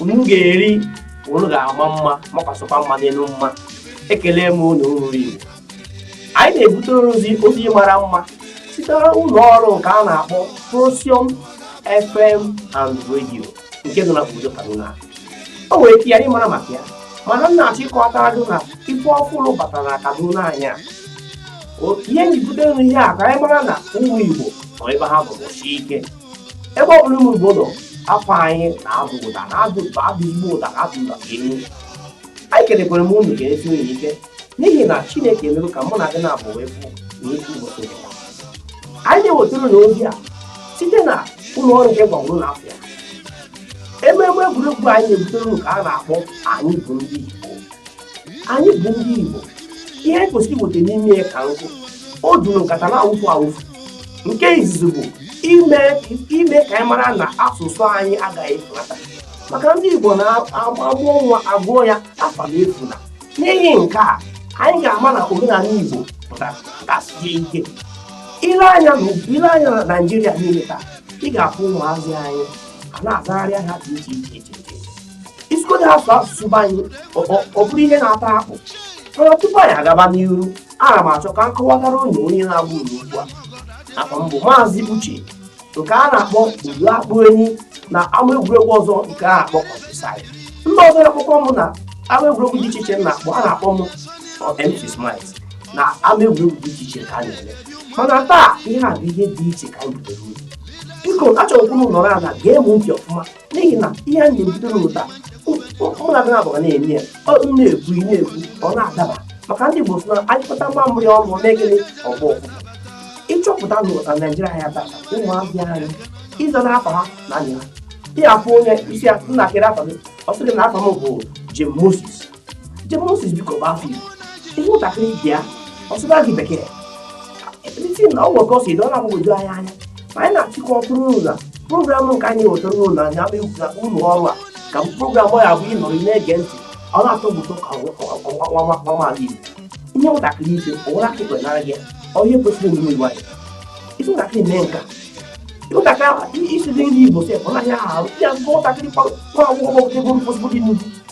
unu ga-eri unu ga-ama mma makwasịkwa mma n'elu mma ekele m unu ụmụ igbo anyị na-ebutere unu ozi mara mma site ụlọ ọrụ nke a na-akpọ Procyon FM and Radio nke dị na obodo Kaduna o nwere ike na ị mara maka ya mana m na-achọ ịkọwatara gị na ife ọfụrụ batara na Kaduna anyị a ihe m ji bute unu ihe a ka anyị mara na ụmụ Igbo nọ ebe ha bụ ike ebe ọ bụla ụmụ Igbo nọ afa anyị na-ada ụda na-ada Igbo ụda na-ada ụda elu anyị kelekwara m unu kelesie unu ike n'ihi na Chineke emego ka mụ na gị naabọ wee fụ na otu ụbọchị nke taa. anyị na-ewetara unu ozi a site na ụlọ ọrụ nke m gwaburu unu afa ya ememe egwuregwu anyị na-ebutere unu ka a na-akpọ anyị bụ ndị Igbo anyị bụ ndị Igbo ihe anyị kwesịrị iweta n'ime ya ka nkụ o juru nkata na-awụfu awụfu nke izizi bụ ime ka anyị mara na asụsụ anyị agaghị efunata maka ndị Igbo na-amụọ nwa agụọ ya Afamefuna n'ihi nke a anyị ga-ama na omenala Igbo pụtara kasie ike i lee anya na Naịjirịa niile taa ị ga-afụ ụmụazị anyị a na-azagharị ha dị iche iche iche ị sịgodị ha sụọ asụsụ be anyị ọ bụrụ ihe na-ata akpụ mana tupu anyị agaba n'iru ana m achọ ka m kọwatara unu onye na-agwa unu okwu a afa m bụ maazị uche nke a na-akpọ ụdọ akpụ enyi na ama egwuregwu ọzọ nke a na-akpọ Countryside ndị ọzọ na-akpọkwa m na ama egwuregwu dị iche iche m na-akpọ a na-akpọ m MC Smart na ama egwuregwu dị iche iche ka a na-eme mana taa ihe a bụ ihe dị iche ka anyị butere unu biko achọrọ m ka unu nọrọ ala gee m ntị ọfụma n'ihi na ihe anyị na-ebute unu taa mụ na gị abụọ na-eme ya ọ m na-ekwu ị na-ekwu ọ na-adaba maka ndị Igbo sị na a nyụkọta mamịrị ọnụ ọ na-eme gịnị ọ gbọọ ụfụfụ ịchọpụta na ụta Naijiria ya tata ụmụazị anyị ịza afa ha na-anyị ha ị ga-afụ onye ị sị ya nna kedụ afa gị ọ sị gị na afa m bụ Jim Moses Jim Moses biko ọ bụ afa Igbo ihe ụtakịrị ibi ya ọ sụba gị bekee isi na ọ gwọkọ si dọla agbagwoju anyị anya mana m na-achọ ịkọwatara unu na programụ nke anyị wetara unu na anya ụlọ ọrụ a ka programụ ya bụ ị nọrọ na-ege ntị ọ na-atọ ụtọ ka nwaala Igbo ihe ụtakịrị ibe ụwara aka ikpe nara gị onye kwesịrị omume Igbo anyị ị sị ụtakịrị mee nka ụtakịrị isizi nri Igbo sef ọ naghị ahụ ya ụtakịrị kwa akwụkwọ ọgbọgụdego mkpụsịbụ dị n'ugwu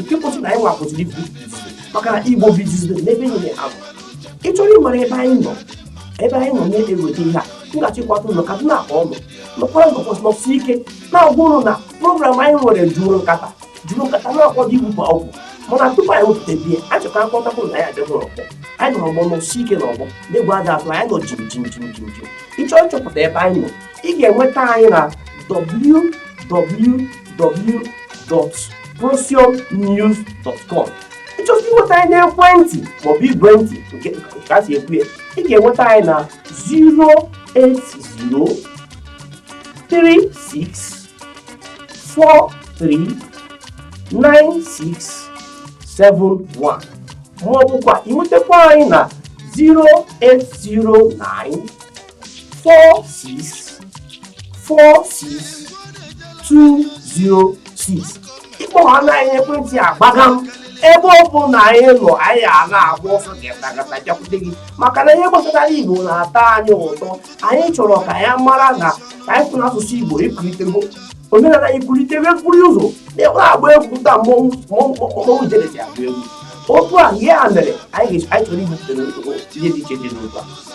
nke kwesịrị na anyị nwa kwesịrị ibu maka na igbo bizizi n'ebe niile abụ ị chọrọ ịmara ebe anyị nọ ebe anyị nọ na-eweta ihe a m ga-achọ ịkọwatara unu ka na akpọ ọnụ nọkwara nọkwasị nọsi ike na-agwa unu na program anyị nwere juru nkata juru nkata na-akwado igbu ma ọgwụ mana tupu anyị wepụta biya a chọta akpọtakwu na ya adịghị ọkpọ anyị nọrọ ọgbọ nọsi ike na ọgbọ na egwu adịghị atụ anyị nọ jim jim jim jim jim ị chọọ ịchọpụta ebe anyị nọ ị ga-enweta anyị na www.procyonnews.com ị chọzie inweta anyị n'ekwentị maọbụ igwe ntị nke ka a si ekwu ya ị ga-enweta anyị na 08036439671 maọbụkwa inwetakwa anyị na 0809 four six four six two zero six ị kpọhana anyị ekwentị agbaga m ebe ọbụna anyị nọ anyị a na-agba ọsọ gatagata bịakwute gị maka na ihe gbasatara igbo na-atọ anyị ụtọ anyị chọrọ ka ya mara na ka anyị kwụ n'asụsụ igbo ikwulitego omenala anyị kwulitebe mkpụrụ ụzọ na-enwe agba egwu taa mmọnwụ jere ji agba egwu otu a ihe a mere anyị chọrọ ibupụta ihe dị iche iche n'ụzọ a